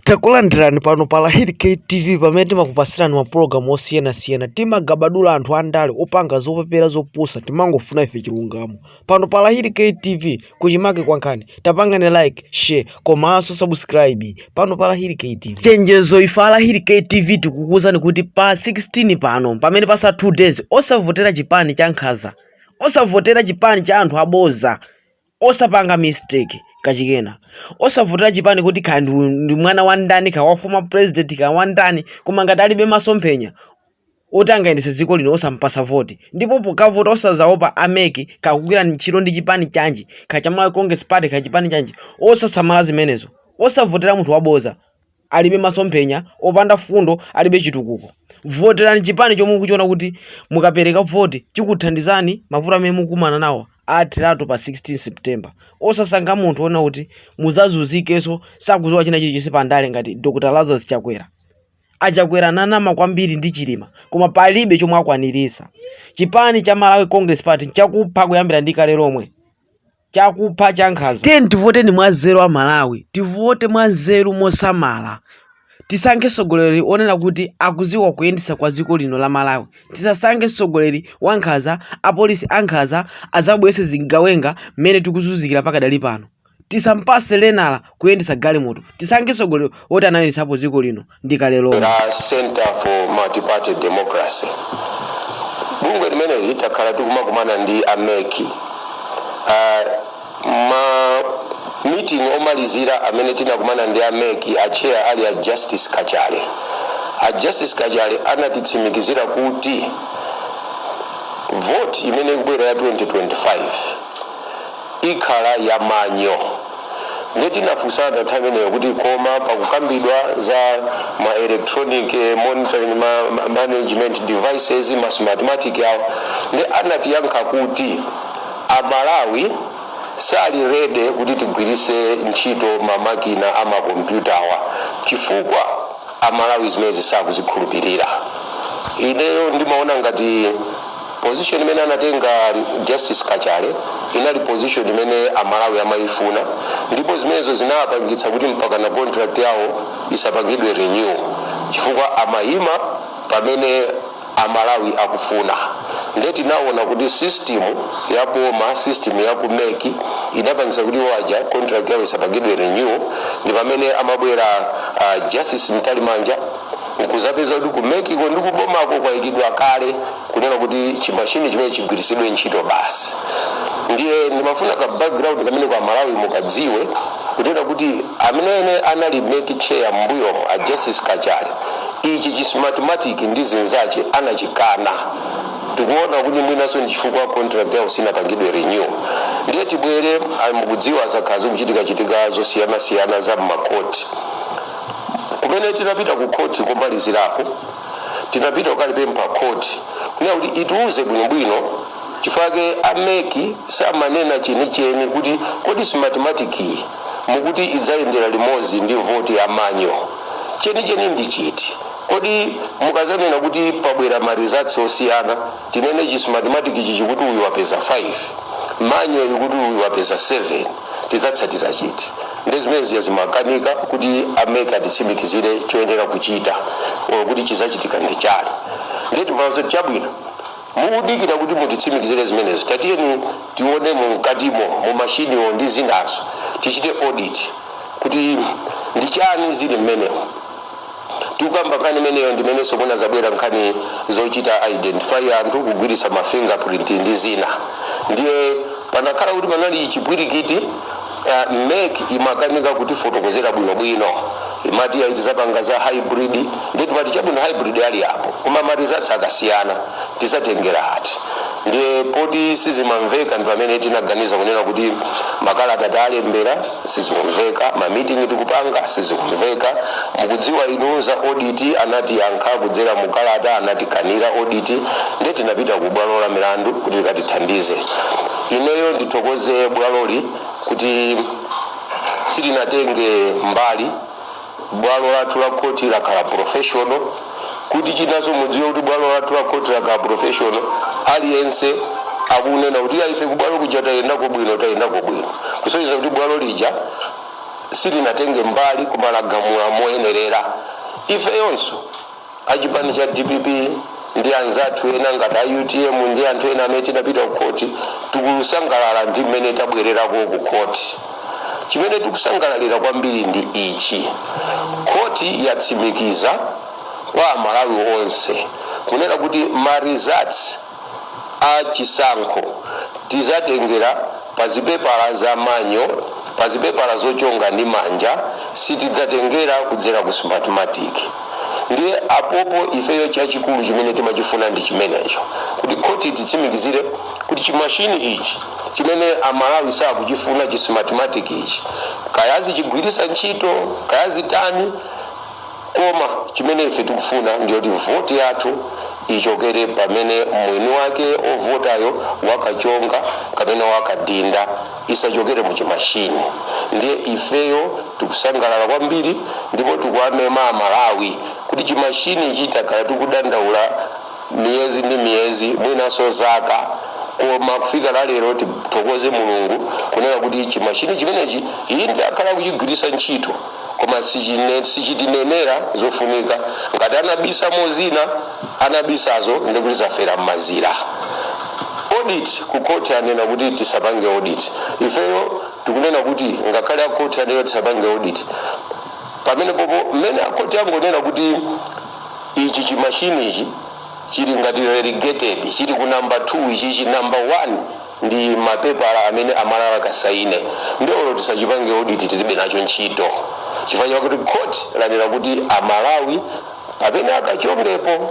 Takulandirani pano pa Lahiri K TV pamene timakupasirani mapulogalamu osiyanasiyana. Timagabadula anthu andale opanga zopepera zopusa, timangofuna ife chilungamo. Pano pa Lahiri K TV kuchimake kwa nkhani, tapangane like, share komanso subscribe pano pa Lahiri K TV. Chenjezo ife a Lahiri K TV tikukuuzani kuti pa 16 pano pamene patsala 2 days osavotera chipani cha nkhaza, osavotera chipani cha anthu aboza Osapanga mistake kachikena. Osavotera chipani kuti kaya ndi ndi mwana wa ndani kaya wa former president kaya wa ndani koma ngati alibe masomphenya oti angayendese dziko lino osampasa voti ndipo pokavota osazaopa a mec kaya akugwira ntchito ndi chipani chanji kaya cha Malawi Congress Party kaya chipani chanji osasamala zimenezo. Osavotera munthu waboza. alibe masomphenya, opanda fundo, alibe chitukuko. Voterani chipani chomwe mukuchiona kuti mukapereka voti chikuthandizani mavuto amene mukumana nawo atheratu pa 16 September. Osasankha munthu onena kuti muzazuzikenso sakuziwa china chilichonse pa ndale ngati Dr. Lazarus Chakwera. Achakwera ananama kwambiri ndi Chilima koma palibe chomwe akwanirisa. Chipani cha Malawi Congress Party chakupha kuyambira ndi kale lomwe. chakupha chankhaza. Tiyeni tivoteni mwanzeru a Malawi, tivote mwanzeru mosamala, tisankhe mtsogoleri onena kuti akuziwa kuyendesa kwa dziko lino la Malawi, tisasankhe mtsogoleri wankhaza, apolisi ankhaza azabwerese zigawenga mmene tikuzunzikira pakadali pano, tisampase lenala kuyendetsa galimoto, tisankhe mtsogoleri oti anayendetsapo dziko lino. ndi kale lomwe. Centre for Multiparty Democracy. Bungwe limeneli takhala tikumakumana ndi a mec ma meeting omalizira amene tinakumana ndi a mec a chair ali a Justice Kachale. A Justice Kachale anatitsimikizira kuti vote imene ikubwera ya 2025 ikhala ya manual. Nde tinafusana nthawi imeneyo kuti koma pakukambidwa za ma electronic monitoring management devices, ma smartmatic awa, nde anatiyankha kuti a Malawi sali ready kuti tigwiritse ntchito ma makina a ma kompyutawa chifukwa a Malawi zimenezi sakuzikhulupirira. Ineyo ndimaona ngati. Position imene anatenga Justice Kachale inali position imene a Malawi amayifuna ndipo zimenezo zinawapangitsa kuti mpakana contract yawo isapangidwe renew chifukwa amayima pamene a Malawi akufuna nde tinaona kuti system ya boma, system ya ku mec inapangisa kuti iwo aja contract yawo isapangidwe renew ndipamene amabwera a Justice Mtalimanja, Nkuzapeza kuti ku mec ko ndi ku bomako kwaikidwa kale kunena kuti chi machine chimene chigwiritsidwe ntchito basi. Ndiye ndimafuna ka background kameneko a Malawi mukadziwe kunena kuti amenene anali MEC chair mmbuyomo a Justice Kachale ichi chi smartmatic ndi zinzache anachikana. Tikuona kuti mwinanso ndi chifukwa contract yawo sinapangidwe renew. Ndiye tibwere, mukudziwa zakhala zikuchitika chitika zosiyana siyana za mma court. Kumene tinapita ku khoti komalizirako, tinapita kukalipempha khoti kunena kuti itiuze bwinobwino chifukwa chake a mec siamanena chenicheni kuti kodi smartmatic yi mukuti idzayendera limodzi ndi voti ya manual, chenicheni ndi chiti? Kodi mukazanena kuti pabwera ma results osiyana tinene chi smartmatic chi chikuti uyu wapeza 5 manual ikuti uyu wapeza 7? tidzatsatira chiti? Ndi zimene zija zimakanika kuti a mec atitsimikizire choyenera kuchita or kuti chidzachitika ndi chani. Ndiye timawauza kuti chabwino, mukudikira kuti mutitsimikizire zimenezo, tatiyeni tione mu mkatimo, mu mashiniwo ndi zinazo, tichite audit kuti ndi chani zili mmenemo. Tikukamba nkhani imeneyo ndimenenso kunazabwera nkhani zochita identify anthu kugwiritsa ma finger print ndi zina ndiye panakhala kuti panali chipwirikiti uh, mec imakanika kutifotokozera bwinobwino imati ayi tizapanga za hybrid ndiye timati chabwino hybrid ali apo koma ma results akasiyana tizatengera ati Ndiye poti sizimamveka ndipamene tinaganiza kunena kuti makalata talembera sizikumveka, ma meeting tikupanga sizikumveka, mukudziwa inu za audit anatiyankha kudzera mu kalata anatikanira audit ndiye tinapita ku bwalo la milandu kuti likatithandize. Ineyo ndithokoze bwaloli kuti silinatenge mbali. Bwalo lathu la khoti lakhala professional. Kuti chinanso mudziwe kuti bwalo lathu la khoti lakhala professional, aliyense akunena kuti iyayi ife kubwalo kuja tayendako bwino, tayendako bwino. Kusonyeza kuti bwalo lija silinatenge mbali koma lagamula moyenerera. Ifeyonso. a chipani cha dpp ndi anzathu ena ngati a utm ndi anthu ena amene tinapita ku khoti tikusangalala ndi mmene tabwererako ku khoti chimene tikusangalalira kwambiri ndi ichi khoti yatsimikiza kwa amalawi onse kunena kuti ma results a chisankho tizatengera pa zipepala za manual, pa zipepala zochonga ndi manja, sitidzatengera kudzera ku smartmatic. Ndiye apopo ifeyo chachikulu chimene timachifuna ndi chimenecho kuti khoti titsimikizire kuti chimashini ichi chimene Amalawi sakuchifuna chi smartmatic ichi, kaya azichigwiritsa ntchito kaya zitani, Koma chimene ife tikufuna ndi choti voti yathu ichokere pamene mwini wake ovotayo wakachonga kapena wakadinda, isachokere mu chimashini. Ndiye ifeyo tikusangalala kwambiri ndipo tikuwamema a Malawi kuti chimashinichi takhala tikudandaula, miyezi ndi miyezi mwinanso zaka koma kufika la lero tithokoze mulungu kunena kuti chimashini chimenechi inde akhala akuchigwiritsa ntchito koma sichitinenera zofunika ngati anabisamo zina anabisazo ndikuti zafera m'mazira audit ku court anena kuti tisapange audit ifeyo tikunena kuti ngakhale a court anena tisapange audit pamenepopo mmene a court angonena kuti Ichi chimashini ichi chili ngati relegated chili ku number 2 ichichi number 1 ndi ma pepala amene a Malawi akasaine nde olo tisachipange audit tilibe nacho ntchito chifukwa chakuti khoti lanena kuti a Malawi pamene akachongepo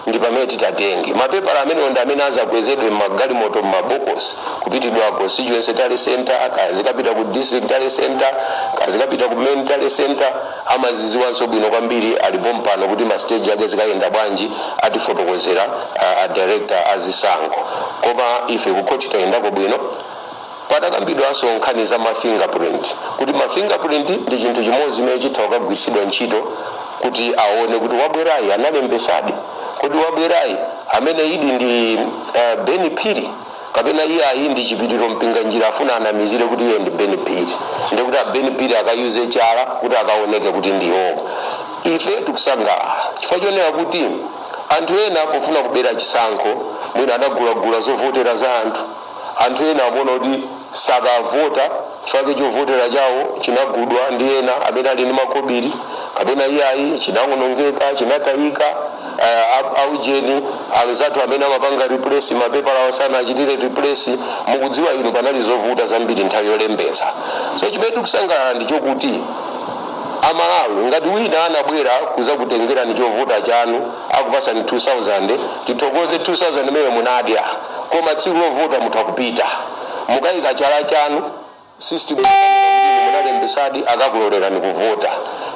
ndi pamene titatenge ma pepala amenewo ndi amene azakwezedwe mma galimoto mma bokosi kupitidwa ku constituency tally centre kaya zikapita ku district tally centre kaya zikapita ku main tally centre Amaziziwanso bwino kwambiri ali pompano kuti ma stage ake zikayenda bwanji atifotokozera a director a zisankho koma ife ku court tayendako bwino padakambidwanso nkhani za ma finger print kuti ma finger print ndi chinthu chimodzi chimene chitha kukagwiritsidwa ntchito kuti awone kuti wabwerayi analembesadi kodi wabwerayi ameneyudi ndi Ben Phiri kapena iyayi ndi chipiliro mpinganjira afuna anamizire kuti iye ndi ben phiri ndiye kuti a ben phiri akayike chala kuti akaoneke kuti ndi iwodi ife tikusangalala chifukwa chonena kuti anthu ena pofuna kubera chisankho mwina anagulagula zovotera za anthu anthu ena akuona kuti sakavota chifukwa chovotera chawo chinagulidwa ndi ena amene ali ndi makobiri kapena iyayi chinawonongeka chinatayika aujeni anzathu amene amapanga replace mapepala awo sanachitire replace mukudziwa inu panali zovuta zambiri nthawi yolembetsa so chimene tikusangalala ndi chokuti amalawi ngati wina anabwera kuzakutengerani chovotera chanu akupasani 2000 tithokoze 2000 imene munadya koma tsiku lovota mutha kupita Mukaika chala chanu system munalembesadi akakulolerani kuvota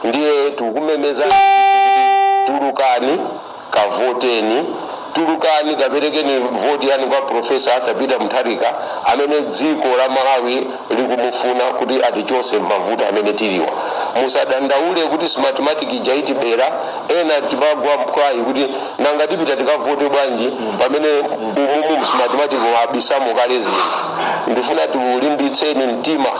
ndiye tikumemeza tulukani kavoteni tulukani kaperekeni voti yanu kwa professor Arthur Peter Mutharika amene dziko la Malawi likumufuna kuti atichose mmavuto amene tiliwa. Musadandaule kuti smartmatic ija itibera ena timagwa mphwayi kuti. Nanga tipita tikavote bwanji pamene umu mu Smartmatic abisamo kale zinthu? Ndifuna tikulimbitseni mtima.